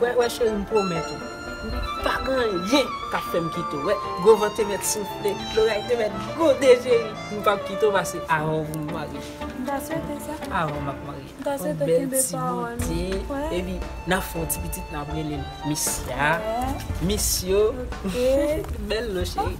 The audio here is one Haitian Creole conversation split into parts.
Wè wè cheri m pwomèt ou pa gen anyen kap fèm kite w wè gwo van te mèt soufle loray te mèt gwonde cheri m pap kite w pase avan w pou m marye m ta swete sa avan map marye m ta swete w kenbe pawòl ou gen yon bèl ti bote epi nap fè yon ti pitit nap rele l misya misyo bèl non cheri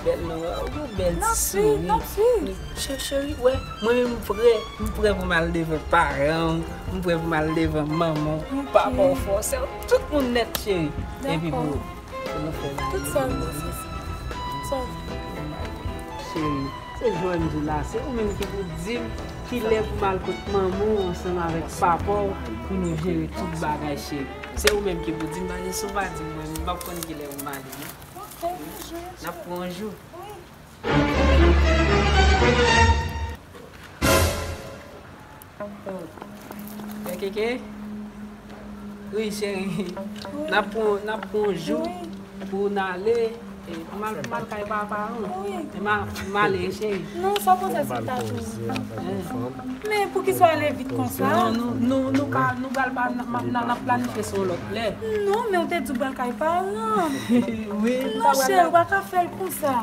bèl non waw gen yon bèl ti souri cheri wè mwen menm m prè m prè pou m al devan paran m. M prè pou m al devan manman w. M pa ba w fòse. Tout moun nèt cheri. Epi pou nou fè bagay. Tout sa w vle. Sa w vle. Cheri, se jan m di w la. Se ou menm ki pou di m ki lè pou m al kot manman w ansanm avèk papa w pou nou jere tout bagay cheri. Se ou menm ki pou di m paske si w pa di m mwen menm m pap konn ki lè pou m ale non. Ok, yon jou, yon jou. N ap pran yon jou. Wi. Kekeke Wi cheri Nap pran nap pran yon jou pou n ale Pou mal pou mal kay papa ou Male cheri Non sa pou sa se ta tou Men pou ki sa w ale vit konsa Nou ka nou pral pa nap planifye sou yon lòt lè Non men ou te di w pral kay paran Wi Monchè ou pa ka fè l konsa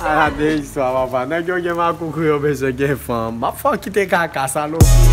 Ala de istwa papa. Nèg yo gen makoukouy yo bezwen gen fanm. Map fè w kite kaka salopri.